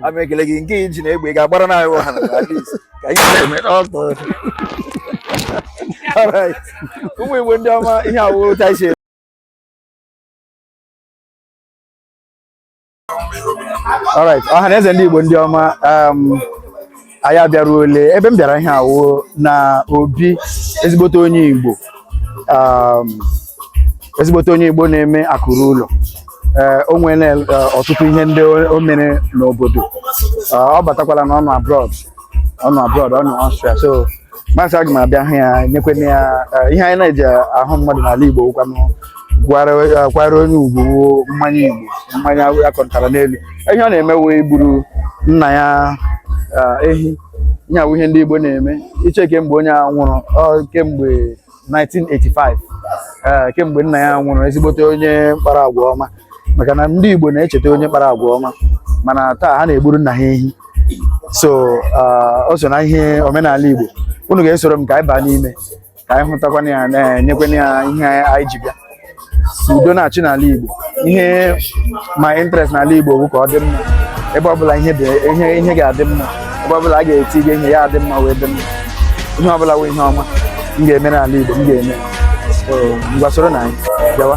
a m ekele gị nke iji na egbe ị ga-agbara nna anyị ọhana na alis ka anyị na-eme ọtọ Alright. ụmụ igbo ndị ọma ihe awụrụ ụta isi Alright, ọha na eze ndị igbo ndị ọma um, anyị abịaruole ebe m bịara ihe a wụ na obi ezigbote onye Igbo um, ezigbote onye Igbo na-eme akụ ruo ụlọ eh, o nwere eh, ọtụtụ ihe ndị o mere n'obodo eh, ọ batakwala na ọ nọ abroad ọ nọ abroad ọ nọ Austria so m asị aga m abịa hụ ya nyekwena ya eh, ihe anyị na-eji ahụ mmadụ n'ala Igbo kwanyekwara onye ugwu mmanya Igbo mmanya a kụtara n'elu ihe ọ na-eme wụ igburu nna ya eh, ehi ihe a wụ ihe ndị Igbo na-eme iche kemgbe onye a nwụrụ ọ kemgbe 1985 ee kemgbe nna ya nwụrụ ezigbote onye mkpara agwa ọma maka na ndị Igbo na-echeta onye mkpara agwa ọma mana taa ha na-egburu nna ha ehi so ah, o so na ihe omenala Igbo unu ga-esoro m ka anyị baa n'ime ka anyị hụtakwana ya nyekwana ya ihe anyị ji bịa udo na-achị n'ala Igbo ihe my interest n'ala Igbo wụ ka ọ dị mma ebe ọbụla ihe ihe ga-adị mma ebe ọbụla a ga-etinye ihe ya adị mma wee dị mma ihe ọbụla wụ ihe ọma m ga-eme n'ala Igbo m ga-eme ngwa soronụ anyị bịawa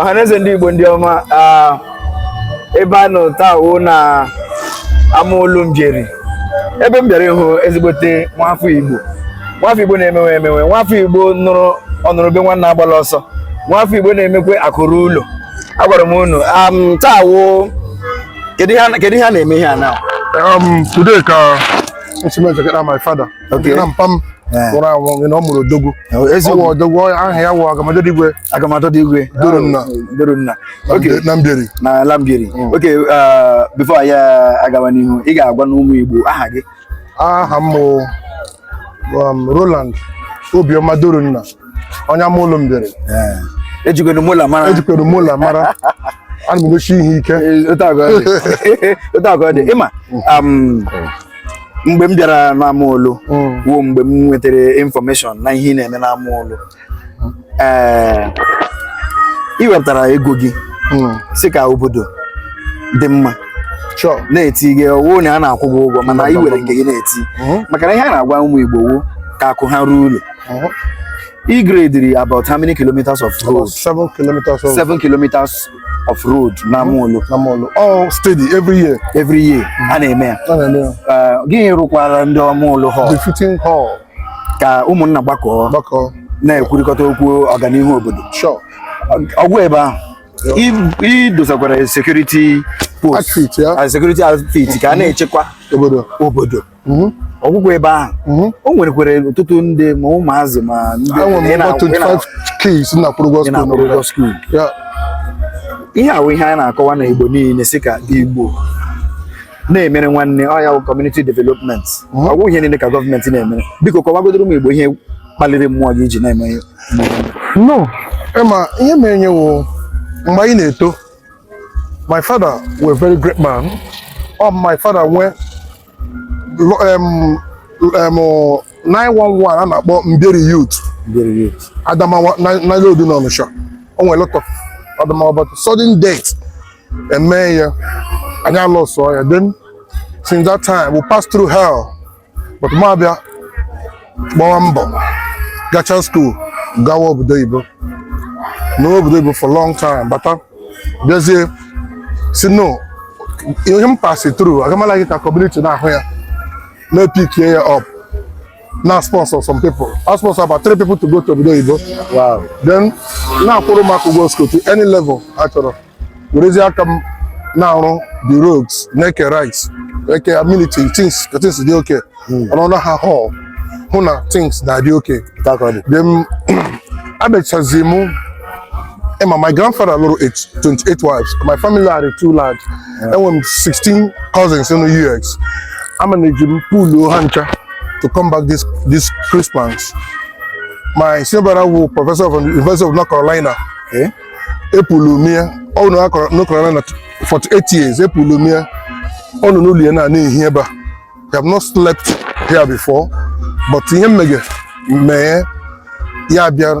ọhaneze ndị Igbo ndị ọma ebe a nọ taa wụ na Amaulu Mbieri ebe m bịara ịhụ ezigbote nwafọ Igbo nwafọ Igbo na-emewe emewe nwafọ Igbo nụrụ ọ nụrụ ube nwanna agbala ọsọ nwafọ Igbo na-emekwe akụ ruo ụlọ agwara m unu taa wụ Kedu ihe a- kedu ihe a na-eme ihe a na? Um, today ka esi m echekara my father Okay. na mpa m Eh. nwụrụ anwụ gị na ọ mụrụ odogwu Eh, ọ eziokwu. wụ odogwu ọ- aha ya wụ agamadịrị igwe Agamatọ dị igwe. Durunna. Durunna. na Okay. Mbe- na Mbieri na Mbieri. Okay, uh, before anyị agawa n'ihu, ị ga-agwanụ ụmụ Igbo aha gị aha m um, Roland Obioma Durunna onye Amaulu Mbieri ejikwere mola mara ejikwere mola mara ana m egosi ihe ike otu agụ ọ dị ịma um, mgbe m bịara n'Amaulu mm. wụ mgbe m nwetara information na ihe ị na-eme n'Amaulu ee eh, ị wepụtara ego gị hmm. sị ka obodo dị mma na-eti gị ọ wụ onye a na-akwụ gị ụgwọ mana ị were nke gị na-eti hmm. maka na ihe a na-agwa ụmụ Igbo wụ ka akụ ha ruo ụlọ hmm. ị gradiri about how many kilometers of road? Seven kilometers of seven kilometers of road n'Amaulu. N'Amaulu. All oh, steady every year. Every year. A na-eme ya. A na-eme ya. Eh, gị rụkwara ndị Amaulu hall? Befitting hall. ka ụmụnna gbakọọ gbakọọ na-ekwurịkọta okwu ọganihu obodo sure ọ gwụ ebe ahụ i- i dosakwara sekuriti post Outfit, ya. ah, security outfit ka a na-echekwa obodo obodo Mhm. ọ gwụghị ebe ahụ Mhm. o nwerekwere ọtụtụ ndị ma ụmụazị ma ndị enwere ị m na- over ị na- 25 kids na-akwụrụ ụgwọ ị skuul na-akwụ n'obodo ụgwọ skuul ya ihe a wụ ihe anyị na-akọwa na igbo niile sị ka igbo na-emere nwanne ọ ya bụ community development ọ bụghị ihe niile ka gọọmenti na-emere biko kọwagodoro m igbo ihe kpaliri mmụọ gị iji na-eme ihe no ị ma ihe merenụ wụ mgbe anyị na-eto my father were very great man ọ my father nwee lo- em, em, 911 a na-akpọ Mbieri Youth Very good. Adamawa na-aload n'Ọnịsha o nwere lot of Adamawa but sudden death emee ya anyị alọsụọ ya then since that time we pass through hell but m abịa gbawa mbọ gachaa school gawa obodo oyibo nọ obodo oyibo for long time bata bịazie sị no ihe m pasi through agamala gị ka community na-ahụ ya na-epikie ya up na-asponsor some people I sponsor about three people to go to obodo oyibo wow then na-akwụrụ ụmụaka ụgwọ school to any level ha chọrọ werezie aka m na-arụ the roads na-eke rice eke amenities things ka things dị okay ọnọdụ ha hall hụ na things na-adị okay thank God then abịachazie mụ ị ma, my grandfather lụrụ eight- 28 wives. My family are too large. Enwere m 16 cousins in the US. A manage m pull ha ncha. to come back this this Christmas. My senior brother wụ professor from the University of North Carolina, eh? E pull m ya ụnọ, North Carolina, 48 years, E pull m ya ụnọ, Luliana, here, but I have not slept here before, but ihe m megha mee ya bịa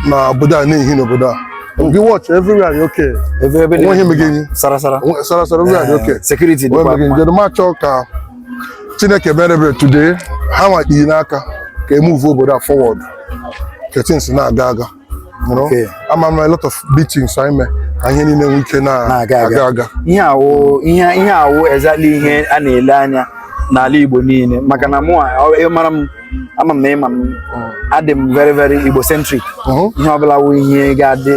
na obodo a na-ehi n'obodo a gị watch everywhere dị okay nweghị mege enyi sarasara sarasara everywhere dị eh, okay security dịkwa mma njedụ ma chọọ ka chineke mere ebere today ha nwa kpiri n'aka ka e move obodo a forward ka things na-aga aga you know? Okay. ama m a lot of beatings anyị mee ka ihe niile nwee ike na- Na-aga aga. aga aga ihe a wụ ihe ihe a wụ exactly ihe a na-ele anya n'ala Igbo niile maka na mụ mara m ama m na ị ma m adị m very very Igbo centric Mhm. ihe ọbụla wụ ihe ga-adị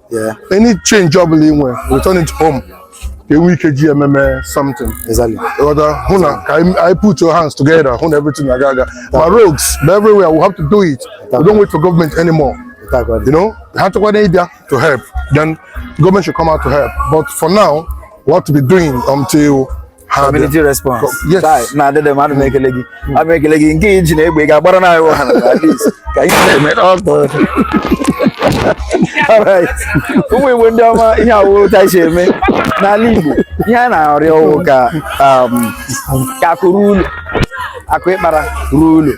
Yeah. Any change ọ bụla ị nwere, return it home. Ka e nwee ike ji ememe something. Exactly. Ị ghọta hụ na ka anyị anyị put our hands together hụ na everything na-aga aga. Ma roads ma everywhere we have to do it. We don't wait for government anymore. Without God. You know, ha chọkwa na ịbịa to help, then government should come out to help. But for now, we have to be doing until ha community response taa na adịdị m ana m ekele gị hmm. ana m ekele gị nke i ji na egbe ga-agbara na iwu ha na ka ihe na-eme n'ọtọ ụmụ igbo ndị ọma ihe awụrụ ta si eme n'ala igbo ihe a na-arịọ ọ wụ ka um, ka akụ ruo ụlọ akụ ị kpara ruo ụlọ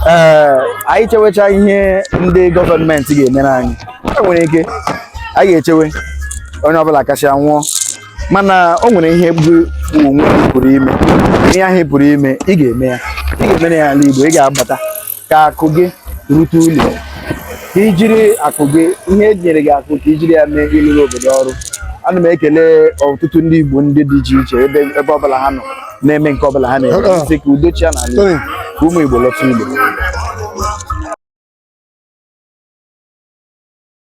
ee anyị chewecha ihe ndị gọọmenti ga-emere anyị e nwere ike anyị ga-echewe onye ọbụla akasịa nwụọ mana o nwere ihe gị onwe gị pụrụ ime ihe ahụ ị pụrụ ime ị ga-eme ya ị ga-emere ya ala igbo ị ga-abata ka akụ gị rute ụlọ ka i jiri akụ gị ihe e nyere gị akụ ka i jiri ya mee ịlụrụ obodo ọrụ ana m ekele ọtụtụ ndị igbo ndị dị iche iche ebe ebe ọbụla ha nọ na-eme nke ọbụla ha na-eme sị ka udo chịa n'ala igbo ka ụmụ igbo lọta ụlọ